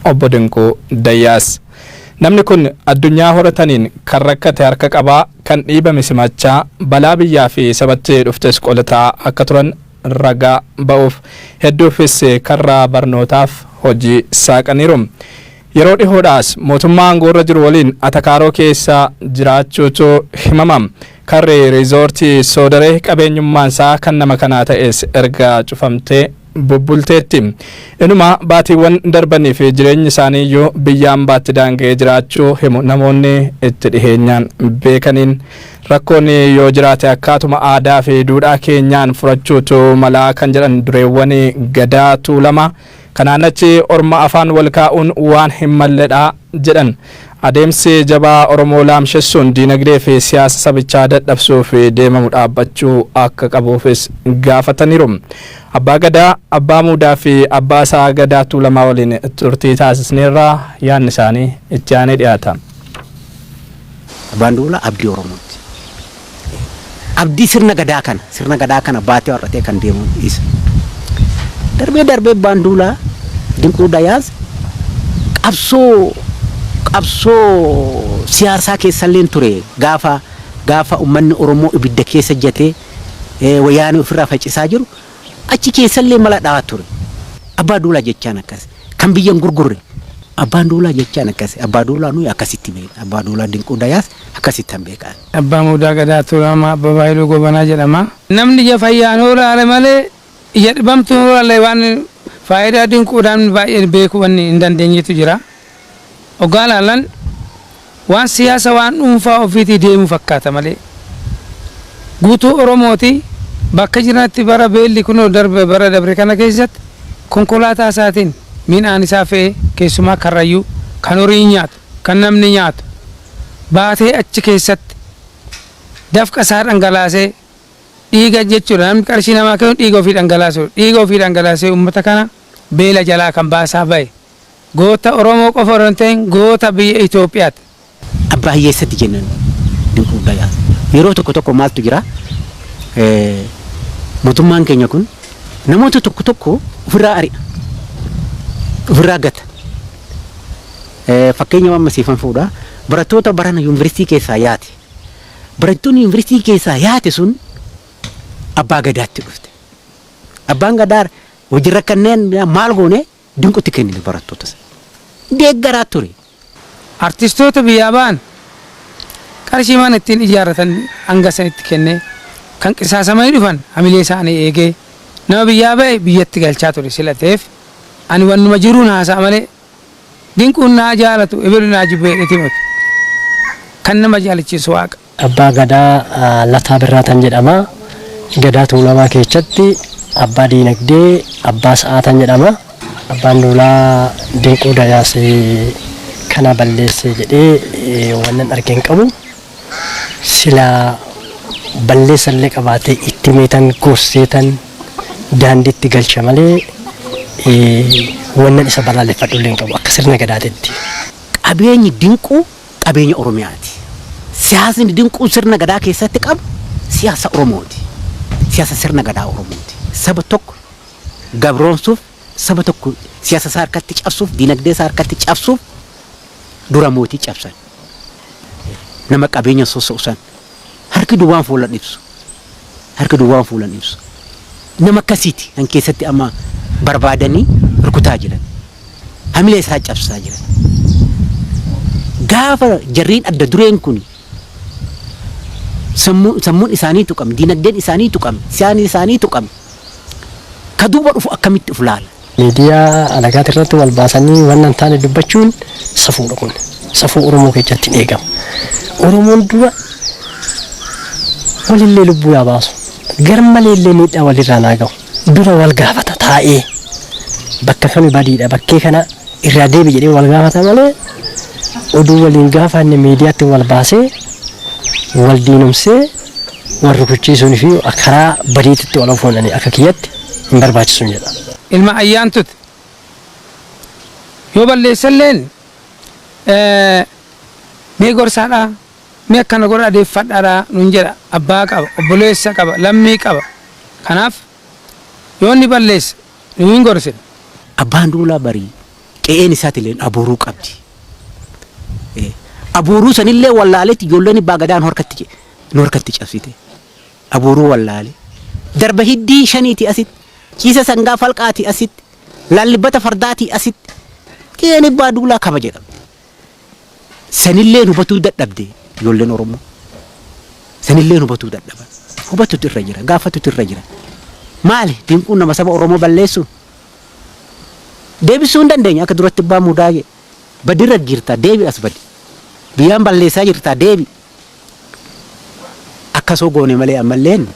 Obbo Dinquu Dayyaas. Namni kun addunyaa horataniin kan rakkate harka qabaa, kan dhiibame simachaa, balaa biyyaa fi sabatti dhuftes qolataa akka turan raga ba'uuf hedduufis karraa barnootaaf hojii saaqaniiru. Yeroo dhihoodhaas mootummaa aangoorra jiru waliin atakaaroo keessa jiraachuutu himama. Karri Riizoortii Soodaree qabeenyummaansaa kan nama kanaa ta'es erga cufamtee bubbulteetti. Inumaa baatiiwwan darbaniif jireenyi isaaniiyyuu biyya ambaatti daanga'ee jiraachuu himu namoonni itti dhiheenyaan beekaniin. Rakkoon yoo jiraate akkaatuma aadaa fi duudhaa keenyaan furachuutu malaa kan jedhan dureewwan Gadaa Tuulamaa kanaan achi orma afaan wal kaa'uun waan hin malledha jedhan. Adeemsi jabaa Oromoo laamshessuun diinagdee fi siyaasa sabichaa dadhabsuuf deemamu dhaabbachuu akka qabuufis gaafataniiru. Abbaa Gadaa, Abbaa Muudaa fi Abbaa isaa Gadaa Tuulamaa waliin turtii taasisneerra. Yaadni isaanii itti aanee dhiyaata. Abbaan Duulaa abdii Oromootti. Abdii sirna Gadaa kana sirna Gadaa kana baatee har'atee kan deemu isa. Darbee darbee Abbaan Duulaa Dinquu Dayaaz qabsoo qabsoo siyaasaa keessalleen ture gaafa gaafa ummanni Oromoo ibidda keessa jatee wayyaanee ofirraa facisaa jiru achi keessallee mala dhahaa ture. Abbaa Duulaa jechaan akkas kan biyya hin gurgurre Abbaan Duulaa jechaan akkas Abbaa Duulaa nuyi akkasitti beekna Abbaa Duulaa Dinquu Dayaaz akkasittan beekaan. Abbaa Muudaa Gadaa Tuulamaa Abbabaa Hayluu Goobanaa jedhama. Namni ija fayyaan hoolaale malee ija dhibamtuun hoolaalle waan faayidaa dinquudhaa namni baay'een beekuu wanni hin dandeenyetu jira. Oggaa ilaalan waan siyaasa waan dhuunfaa ofiitii deemu fakkaata malee guutuu Oromooti bakka jiranitti bara beelli kunoo darbe bara dabre kana keessatti konkolaataa isaatiin midhaan isaa fe'ee keessumaa Karrayyuu kan horii nyaatu kan namni nyaatu baatee achi keessatti dafqa isaa dhangalaasee dhiiga jechuudha namni qarshii namaa kennu dhiiga ofii dhangalaasuudha dhiiga ofii dhangalaasee uummata kana beela jalaa kan baasaa ba'e goota Oromoo qofa osoo hin ta'in goota biyya Itoophiyaati. Abbaa hiyyeessatti jennan dinquu bayaa yeroo tokko tokko maaltu jira mootummaan keenya kun namoota tokko tokko ofirraa ari'a ofirraa gata Fakkeenya amma siifan fuudha. Barattoota barana yuunivarsiitii keessaa yaate. Barattoonni yuunivarsiitii keessaa yaate sun abbaa gadaatti dhufte. Abbaan gadaa hojii rakkanneen maal goone dinqutti kennine barattoota sana. Deeggaraa ture. Artistoota biyyaa ba'an qarshii mana ittiin ijaarratan hanga sanitti kennee kan qisaasamanii dhufan hamilee isaanii eegee nama biyyaa ba'e biyyatti galchaa ture sila ta'eef ani wannuma jiruun haasa'a malee Dinquun naa jaalatu ebelu naa jibba jedheeti miti. Kan nama jaalachiisu Waaqa. Abbaa Gadaa Lataa Birraataan jedhama. Gadaa Tuulamaa keessatti abbaa diinagdee, abbaa sa'aataan jedhama. Abbaan Duulaa Dinquu Dayaas kana balleesse jedhee waanan arge hin qabu. silaa balleessallee qabaatee itti himeetan gorseetan daandiitti galcha malee wannan isa balaaleffadhullee hin qabu akka sirna Gadaatitti. Qabeenyi Dinquu qabeenya Oromiyaati. Siyaasni Dinquun sirna Gadaa keessatti qabu siyaasa Oromooti. Siyaasa sirna Gadaa Oromooti. Saba tokko gabroomsuuf, saba tokko siyaasa isaa harkatti cabsuuf, diinagdee isaa harkatti cabsuuf, dura mootii cabsan nama qabeenya sossa'u san harki duwwaan fuulan ibsu harki duwwaan fuulan ibsu nama akkasiiti kan keessatti amma barbaadanii rukutaa jiran hamilee isaa cabsaa jiran gaafa jarriin adda dureen kuni sammuu- sammuun isaanii tuqame, dinagdeen isaanii tuqame, siyaasni isaanii tuqame, ka duuba dhufu akkamitti of laala? Miidiyaa alagaati irratti wal baasanii wanna hin taane dubbachuun safuudha kun. Safuu Oromoo keessatti hin eegamu. Oromoon dura walillee lubbuu yaa baasu. Garmalee illee miidhaa walirraan haa gahu. Dura wal gaafata taa'ee. Bakka kami badiidha bakkee kana irraa deebi jedhee wal gaafata malee oduu waliin gaafa inni miidiyaatti wal baasee wal diinomsee wal rukuchiisuun fi karaa badiititti wal ofuun ani akka kiyyatti hin barbaachisun jedha. Ilma Ayyaantuti. Yoo balleesselleen mee gorsaadha, mee akkana godhaa deeffadhaadha nuun jedha. Abbaa qaba, obboleessa qaba, lammii qaba. Kanaaf yoo inni balleesse nuyi hin gorsina. Abbaan Duulaa barii qe'een isaatilleen abuuruu qabdi. Abuuruu sanillee wallaaleeti ijoolleen Abbaa Gadaan horkatti nu harkatti cabsite. Abuuruu wallaale. Darba hiddii shaniitii asitti, ciisa sangaa falqaatii asitti, laallibbata fardaatii asitti qe'een ebbaa duulaa kabaja qabdi. Sanilleen hubatuu dadhabde ijoolleen Oromoo. Sanilleen hubatuu dadhaban. Hubatutu irra jira, gaafatutu irra jira. Maali dinquun nama saba Oromoo balleessuun? Deebisuu hin dandeenye akka duratti ebbaa muudaa jee. Badi irra jirta deebi as badi. Biyyaan balleessaa jirta deebi. Akkas hoo goone malee ammalleen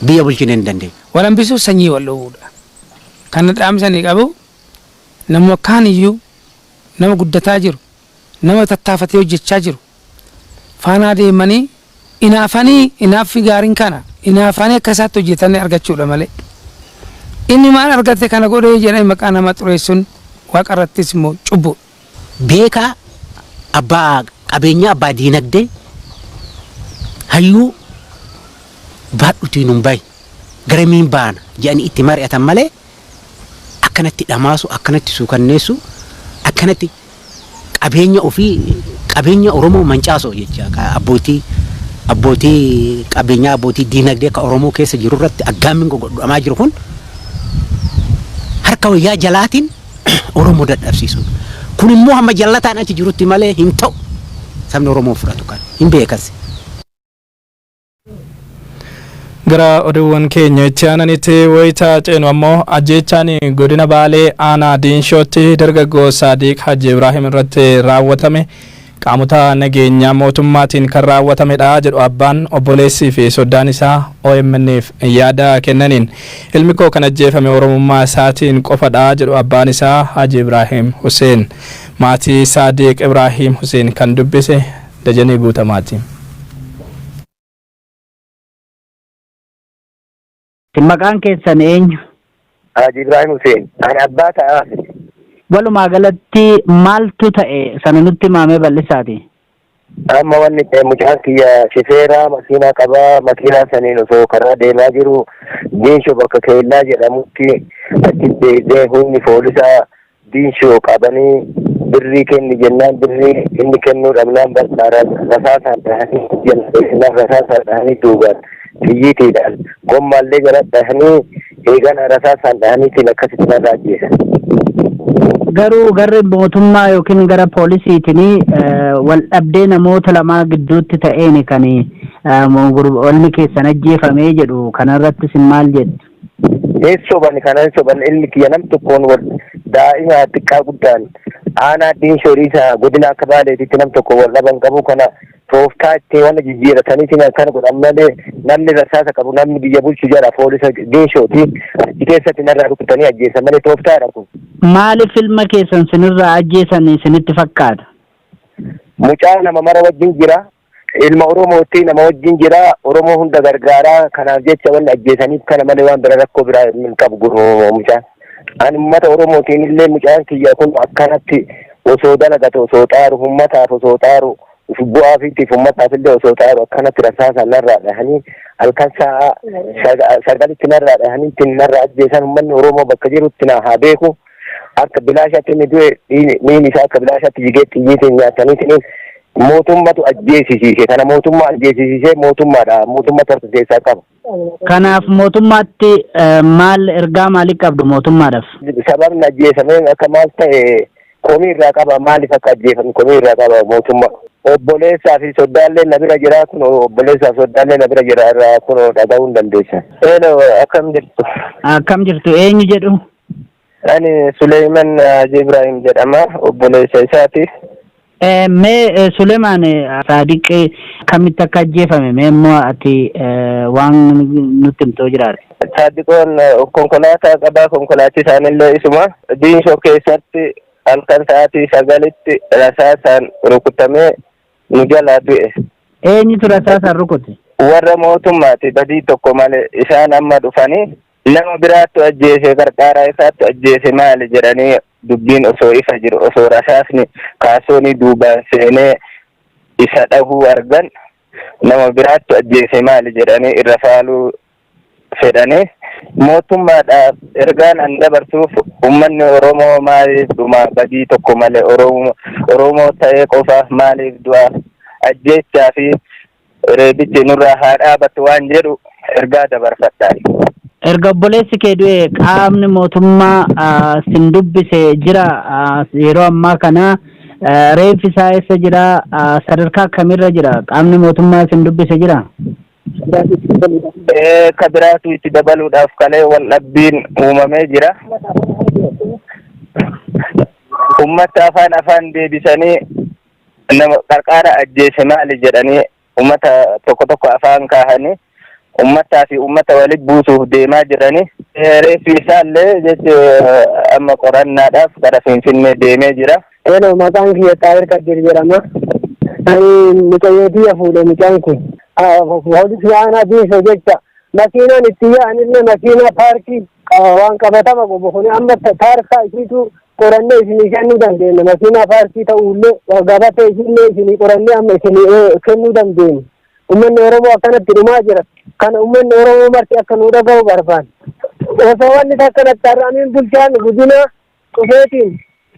biyya bulchinee hin dandeenyu. Wal hambisuuf sanyii wal dhowwuudha. Kana dhaamsa ani qabu namuma kaaniyyuu nama guddataa jiru, nama tattaafatee hojjechaa jiru faanaa deemanii inaafanii inaaffi gaariin kana inaafanii akka isaatti hojjetanii argachuudha malee inni maal argate kana godhee jedhanii maqaa namaa xureessuun waaqarrattis immoo cubbuudha. beekaa, abbaa qabeenyaa, abbaa diinagdee, hayyuu baadhutii nun bahi garamiin baana jedhanii itti mari'atan malee akkanatti dhamaasu, akkanatti suukanneessu, akkanatti qabeenya ofii qabeenya Oromoo mancaasoo jecha ka abbootii abbootii qabeenyaa abbootii diinagdee ka Oromoo keessa jiru irratti aggaammiin gogodhamaa jiru kun harka wayyaa jalaatiin Oromoo dadhabsiisuun kun immoo hamma jallataan achi jirutti malee hin ta'u sabni Oromoo hin fudhatu kan hin beekas. Gara oduuwwan keenya itti aananitti wayita ceenu ammoo ajjeechaan godina Baalee aanaa Diinshootti dargaggoo Saadiq Hajji Ibraahim irratti raawwatame qaamota nageenya mootummaatiin kan raawwatamedha jedhu abbaan, obboleessii fi soddaan isaa OMN'f yaada kennaniin. Ilmikoo kan ajjeefame Oromummaa isaatiin qofadha jedhu abbaan isaa Haji Ibraahiim Huseen. Maatii Saadiiq Ibraahiim Huseen kan dubbise Dajanee Guutamaati. Isin maqaan keessan eenyu? Haaji Ibraahim Huseen. Ani abbaa ta'aa. Walumaa galatti maaltu ta'e sana nutti himaamee bal'isaati. Amma wanni ta'e mucaan kiyya shifeeraa makiinaa qabaa makiinaa saniin osoo karaa deemaa jiru Geeshoo bakka Keellaa jedhamutti achitti deebi'ee humni poolisaa Diinshoo qabanii birrii kenni jennaan birrii inni kennuu dhabnaan bakka rasaasaan dhahanii jala dheessinaan rasaasaan dhahanii duubaan xiyyiitiidhaan gommaallee jala dhahanii eegana rasaasaan dhahaniitiin akkasitti narra ajjeesan. Garuu garri mootummaa yookiin gara poolisiitiin wal dhabdee namoota lamaa gidduutti ta'een kan walni keessan ajjeefamee jedhu kanarratti isin maal jettu? Hin soban kana hin soban ilmi kiyya nam tokkoon wal daa'ima xiqqaa guddaan aanaa diinshoo dhiisaa godina akka baaleetitti nam tokko wal dhaban qabu kana tooftaa itti wanna jijjiirataniitiin akkana godhan malee namni rasaasa qabu namni biyya bulchu jala poolisa diinshooti achi keessatti narraa rukutanii ajjeesan malee tooftaadha kun. Maaliif ilma keessan sinirraa ajjeesan isinitti fakkaata? Mucaa nama mara wajjin jira Ilma Oromootti nama wajjin jira. Oromoo hunda gargaara. Kanaaf jecha wanni ajjeesaniif kana malee waan bira rakkoo biraa hin qabu gurmuu mucaan. Ani uummata Oromootiin illee mucaan kiyya kun akkanatti osoo dalagate osoo xaaru uummataaf osoo xaaru bu'aa fiitiif uummataaf illee osoo xaaru akkanatti rasaasaan narraa dhahanii halkan sa'a sagalitti narraa dhahanii ittiin narraa ajjeesan uummanni Oromoo bakka jirutti na haa beeku. akka bilaashatti inni du'e dhiigni miini isaa akka bilaashatti jigee xiyyiitiin nyaataniitiin mootummatu ajjeesisiise kana mootummaa ajjeesisiisee mootummaadha mootummaa tartu keessaa qaba. Kanaaf mootummaatti eh, maal ergaa maalii qabdu mootummaadhaaf? Sababni ajjeesamee akka maal ta'e komii irraa qaba maaliif akka ajjeefame komii irraa qaba mootummaa. Obboleessaa fi soddaallee na bira jira kun obboleessaa fi soddaallee na bira jira irraa kun dhaga'uu hin dandeessan. Eelo akkam jirtu? Akkam jirtu eenyu jedhu? Ani Suleeyman Haji Ibraahim jedhama. Obboleessa isaati. Mee Sulemaan Saadiq akkamitti akka ajjeefame mee immoo ati waan nutti himtoo jiraate. Saadiqoon konkolaataa qabaa konkolaachiisaan illee isuma diinshoo keessatti halkan sa'aatii sagalitti rasaasaan rukutamee nu jalaa du'e. Eenyutu rasaasaan rukute? Warra mootummaati badii tokko malee isaan amma dhufanii Nama biraattu ajjeese qarqaaraa isaattu ajjeese maali jedhanii dubbiin osoo ifa jiru osoo rasaasni kaasoonii duubaan seenee isa dhahuu argan nama biraattu ajjeese maali jedhanii irra faaluu fedhanii mootummaadhaaf ergaan an dabarsuuf ummanni Oromoo maaliif dhumaa badii tokko malee Oromoo ta'ee qofaaf maaliif du'aa ajjeechaa fi Reebichi nurraa haa dhaabatu waan jedhu ergaa dabarfadha. Erga obboleessi kee du'e qaamni mootummaa sin dubbise jira yeroo ammaa kana reeffi isaa eessa jira sadarkaa akkamiirra jira qaamni mootummaa sin dubbise jira. Ka biraatu itti dabaluudhaaf kalee wal dhabbiin uumamee jira. Uummata afaan afaan deebisanii nama qarqaara ajjeese maali jedhanii ummata tokko tokko afaan kaahanii ummataa fi ummata walitti buusuuf deemaa jiranii reeffi isaallee jechi amma qorannaadhaaf gara finfinnee deemee jira. Hello, maqaan kiyya Xaahir Kadir jedhama. Ani mucayyoo tiyya fuudhe mucaan kun. Poolisii aanaa biisa jecha makiinaan itti yaa'anillee makiinaa paarkii Waan qabatama qobo kun amma taarkaa isiitu qorannee isinii kennuu dandeenya. Makiinaa paarkii ta'uullee gabatee isiillee isinii qorannee amma isinii kennuu dandeenya. Uummanni Oromoo akkanatti dhumaa jira. Kana uummanni Oromoo marti akka nu dhaga'u barbaanna. Osoo wanni takka natti har'amiin bulchaan godinaa dhufeetiin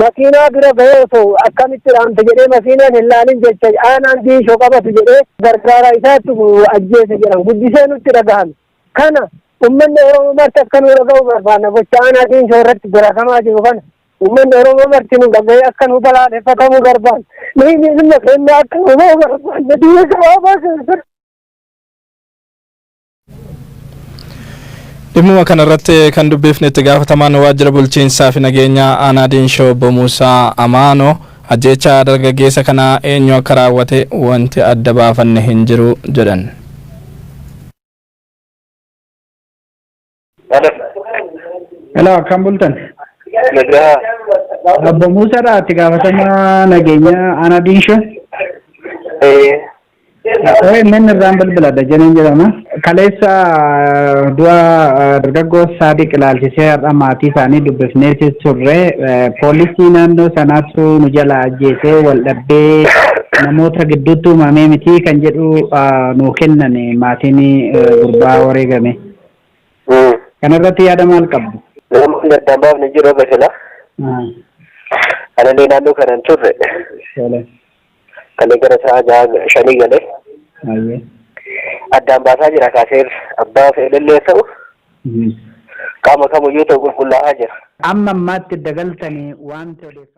makiinaa bira ga'ee osoo akkamitti dhaamte jedhee makiinaan hin laalin jecha aanaan diishoo qabatu jedhee gargaaraa isaatti ajjeese jedhan guddisee nutti dhagahame. Kana ummanni Oromoo marti akka nuu dhaga'u barbaanna. Gocha aanaa Diinshoo irratti dalagamaa jiru kana ummanni Oromoo marti nuu dhaga'ee akka nuu balaaleffatamu barbaanna. Dhiigni ilma keenyaa akka nuu ba'u barbaanna. Biyya gabaabaa keessatti. Dhimmuma kana irratti kan dubbifne itti gaafatamaan waajjira bulchiinsaa fi nageenyaa aanaa Diinshoo obbo Muusaa Amaanoo Ajjeechaa dargaggeessa kanaa eenyu akka raawwate wanti adda baafanne hin jiru jedhan. Hello. Hello, akkam bultan? Nagaa. Obbo Muusaadha itti gaafatamaa nageenyaa Aanaa Diinshoo. Eh, OMN irraan bilbila Dajaneen jedhama. Kaleessa du'a dargaggoo Saadiq ilaalchisee har'a maatii isaanii dubbifneeti turre. Poolisii naannoo sanaatu nu jala ajjeesee wal dhabbee namoota gidduutti uumamee miti kan jedhu nu kennan maatiin gurbaa wareegame. Kanarratti yaada maal qabdu? Namoonni adda baafne jiru basila. Analee naannoo kanan turre. Kalee gara sa'a ja'a shanii galee Ayyee. addaan baasaa jira kaasee abbaa fedhallee ta'u Mhm. qaama kamiyyuu ta'u qulqullaa'aa jira. Amma ammaatti dagaltanii waanti odeeffannoo.